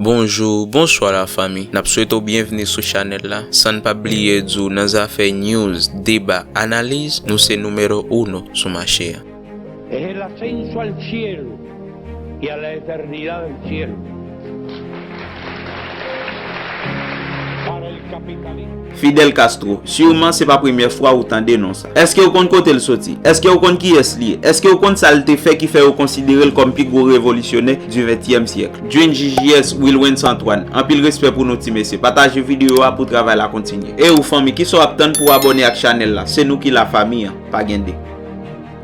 Bonjou, bonswa la fami. Nap swete w byenvni sou chanèl la. San n pa bliye di w nan zafè news, deba, analiz, nou se numero'uno sou mache a. Es el ascenso al cielo y a la eternidad del cielo para el capitalista. Fidel Castro, surman se pa premyè fwa ou tande non sa. Eske ou konn kote l soti? Eske ou konn kiyès li ye? Eske ou konn sa l te fè ki fè yo konsidere l kòm pi gwo revolisyonè di ventyèm syèkl? Jjs Wilwens Antoine, anpil respè pou nou ti mesye. Pataje videyo a pou travay la kontinye. E ou fanmi, kisa w ap tann pou w abòne ak chanèl la? Se nou ki la fami an, pa gen 2.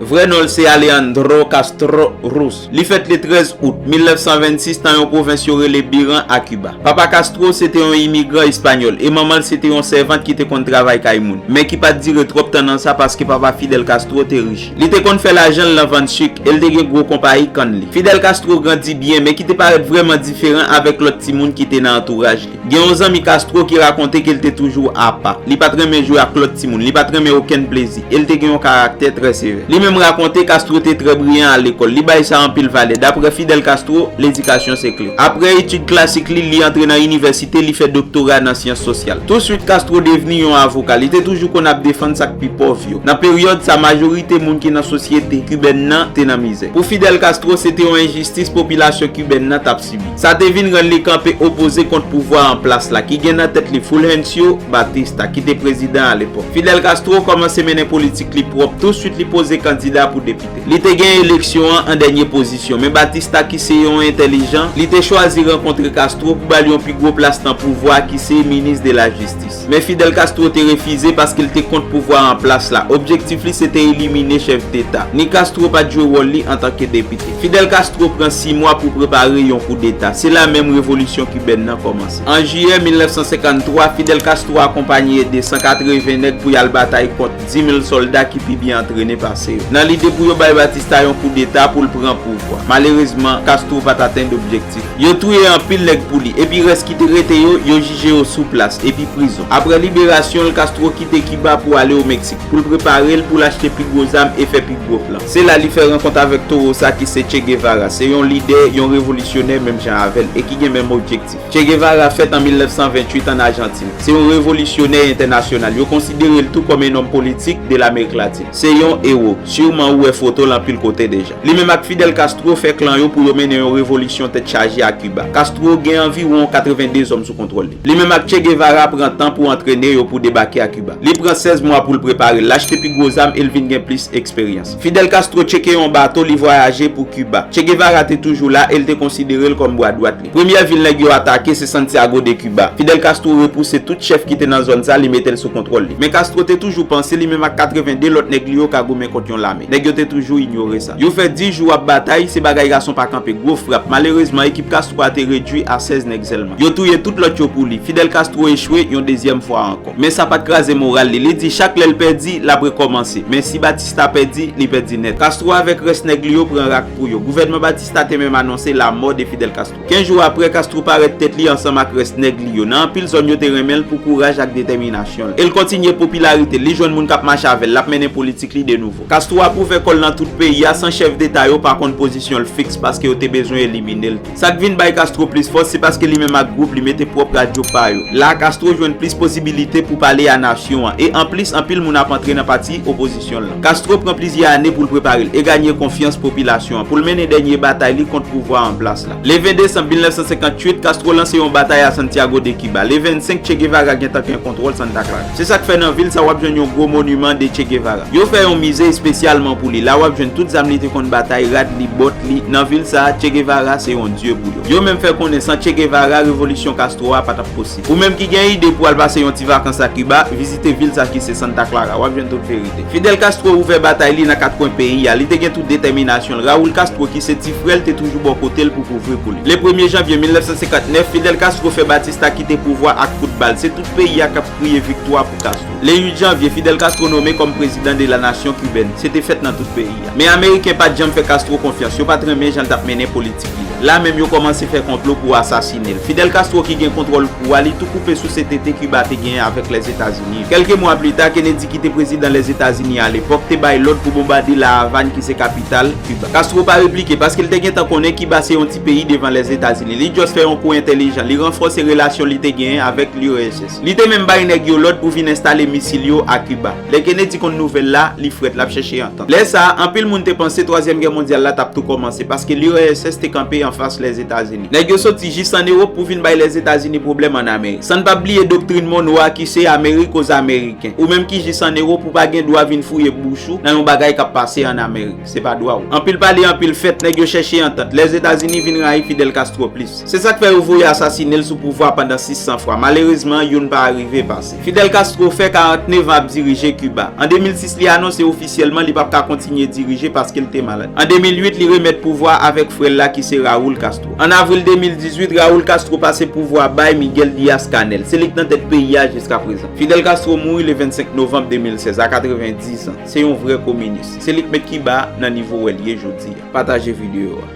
Vrè non l se Alejandro Castro Ruz. Li fèt le 13 out 1926 nan yon pwovens yo rele Biran a Kiba. Papa Castro se te yon imigran espanyòl e manman l se te yon sèvant ki te konn travay kay moun, men ki pa t dire twòp tan nan sa paske papa Fidel Castro te rich. Li te konn fè lajan l nan vann suk e l te gen gwo konpayi kann li. Fidel Castro grandi byen men ki te parèt vrèman diferan avèk lòt timoun ki te nan antouraj li. Gen yon zanmi Castro ki rakonte ke l te toujou apa. Li pa t renmen jwe ak lòt timoun, li pa t renmen okenn plezi, e l te gen yon karaktè trè sevè. Li menm rakonte Castro te trè briyan a lekòl. Li bay sa anpil valè. Daprè Fidel Castro, ledikasyon se kle. Aprè etid klasik li, li antre nan inivèsite, li fè doktora nan syans sosyal. Touswit Castro devni yon avoka. Li te toujou konn ap defann sa k pi pòv yo. Nan peryòd sa, majorite moun ki nan sosyete kibèn nan te nan mizè. Pou Fidel Castro, se te yon enjistis popilasyon kibèn nan t ap sibi. Sa te vin rann li kanpe opoze kont pouvwa an plas la ki gen nan tèt li Fulgencio Batista ki te prezidan alepòk. Fidel Castro kòmanse mennen politik li pwòp tou swit li poze kandida pou depite. Li te gen eleksyon an an dènye pozisyon, men Batista ki se yon entèlijan, li te chwazi rankontre Castro pou ba l yon pi gwo plas nan pouvwa ki se Minis de la Jistis. Men Fidel Castro te refize paske l te kont pouvwa an plas la. Objektif li se te elimine chèf deta. Ni Castro pa t jwe wòl li antanke depite. Fidel Castro pran si mwa pou prepare yon koudeta. Se la menm revolisyon kibèn nan kòmanse. An jiyè 1953, Fidel Castro akonpanye ede 180 nèg pou y al batay kont 10 mil sòlda ki pi byen antrene pase yo, nan lide pou yo bay Batista yon koudeta pou l pran pouvwa. Malerezman, Castro pa t atenn objektif li. Yo touye anpil nèg pou li, epi rès ki te rete yo, yo jije yo sou plas, epi prizon. Apre liberasyon l, Castro kite Kiba pou ale o Meksik, pou l prepare l pou l achte pi gwo zam e fè pi gwo plan. Se la li fè rankont avèk towo sa ki se Che Guevara, se yon lidè, yon revolisyonè menm jan avè l, e ki gen menm objektif. Che Guevara fèt an 1928 ann Ajantin. Se yon revolisyonè entènasyonal. Yo konsidere l tou kòm e nonm politik de Lamerik Latin. Se yon ewo. Siwman ou wè foto l anpil kote deja. Li menm ak Fidel Castro fè klan yo pou yo mennen yon revolisyon tèt chaje a Kiba. Castro gen anviwon 82 zòm sou kontwòl li. Li menm ak Che Guevara pran tan pou antrene yo pou debake a Kiba. Li pran 16 mwa pou l prepare l, l achte pi gwo zam e l vin gen plis eksperyans. Fidel Castro tcheke yon bato, li vwayaje pou Kiba. Che Guevara te toujou la e l te konsidere l kòm bwa dwat li. Premyè vil nèg yo atake se Santiago de Cuba. Fidel Castro repouse tout chèf ki te nan zòn sa li mete l sou kontwòl li. Men Castro te toujou panse li menm ak 82 lòt nèg li yo ka goumen kont yon lame. Nèg yo te toujou inyore sa. Yo fè 10 jou ap batay, se bagay gason pa kanpe, gwo frap. Malerezman ekip Castro a te redui a 16 nèg sèlman. Yo touye tout lòt yo pou li. Fidel Castro echwe yon dezyèm fwa ankò. Men sa pa t kraze moral li. Li di chak lè l pèdi, l ap rekòmanse. Men si Batista pèdi, li pèdi nèt. Castro avèk rès nèg li yo pran rak pou yo. Gouvènman Batista. Star te menm anonse lamò de Fidel Castro. Kenz jou apre, Castro parèt tèt li ansanm ak rès nèg li yo. Nan anpil zòn yo te renmen l pou kouraj ak detèminasyon l. E l kontinye popilarite l, li jwenn moun k ap mache avè l, l ap mennen politik li de nouvo. Castro ap ouvè kò l nan tout peyi a, san chèf deta yo pa konn pozisyon l fiks paske yo te bezwen elimine l tou. Sa k vin bay Castro plis fòs, se paske li menm ak gwoup li mete pwòp radyo pa yo. La a Castro jwenn plis posibilite pou pale a nasyon an. E anplis, anpil moun ap antre nan pati opozisyon. Castro pran plizyè ane pou l prepare l e ganye konfyans popilasyon an pou l mennen dènye batay li kont pouvwa an plas la. Le 20 desanm 1958, Castro lanse yon batay a Santiago de Cuba. Le 25, Che Guevara gentan gen kontwòl Santa Clara. Se sa k fè nan vil sa w ap jwenn yon gwo moniman de Che Guevara. Yo fè yon mize espesyalman pou li. La w ap jwenn tout zam li te konn batay, rad li, bòt li. Nan vil sa a, Che Guevara se yon dye pou yo. Yo menm fè konnen san Che Guevara, revolisyon Castro a pa t ap posib. Ou menm ki gen ide pou al pase yon ti vakans a Kiba, vizite vil sa ki se Santa Clara. Wap jwenn tout verite. Fidel Castro ouvè batay li nan kat kwen peyi a. Li te gen tout detèminasyon l. Raul Castro ki se ti frè l te toujou bò kote l pou kouvri pou li. Le premye janvye 1959, Fidel Castro fè Batista kite pouvwa ak kout bal. Se tout peyi a kap kriye viktwa pou Castro. Le 8 janvye, Fidel Castro nome kòm prezidan de la nasyon kibèn. Se te fèt nan tout peyi. Men Ameriken pa t janm fè Castro konfyans, yo pa t renmen jan l t ap mennen politik li. La menm yo kòmanse fè konplo pou asasine l. Fidel Castro ki gen kontwòl pouvwa li tou koupe souse tete Kiba te genyen avèk Lèzetazini. Kèlke mwa pli ta, Kennedy ki te prezidan Lèzetazini alepòk te bay lòd pou bonbade La Avàn ki se kapital Kiba. Castro pa replike paske l te gentan konnen Kiba se yon ti peyi devan Lèzetazini. Li just fè yon kou entelijan, li ranfòse relasyon li te genyen avèk l'URSS. Li te menm bay nèg yo lòd pou vin enstale misil yo a Kiba. Lè Kennedy konn nouvèl la, li frèt, l ap chèche antant. Lè sa a, anpil moun te panse Twazyèm Gè Mondyal la t ap tou kòmanse, paske l'URSS te kanpe anfas Lèzetazini. Nèg yo soti jis ann Ewop pou vin bay Lèzetazini pwoblèm ann Amerik. San n pa bliye doktrin Monroe a ki se Amerik oz Ameriken. Ou menm ki jis ann Ewop, ou pa gen dwa vin fouye bouch ou nan yon bagay k ap pase ann Amerik. Se pa dwa ou. Anpil pale, anpil fèt, nèg yo chèche antant. Lèzetazini vin rayi Fidel Castro plis. Se sa k fè yo voye asasine l sou pouvwa a pandan 600 fwa. Malerezman, youn pa arive pase. Fidel Castro fè 49 an ap dirije Kiba. An 2006 li anonse ofisyèlman li pap ka kontinye dirije paske l te malad. An 2008 li remèt pouvwa a avèk frè l la ki se Raul Castro. An avril 2018, Raul Castro pase pouvwa a bay Miguel Diaz-Canel. Se li k nan tèt peyi a jiska prezan. Fidel Castro mouri le 25 novanb 2016 a 90 zan. Se yon vrè kominis. Se li k met Kiba nan nivo wè l ye jodi a. Pataje videyo a.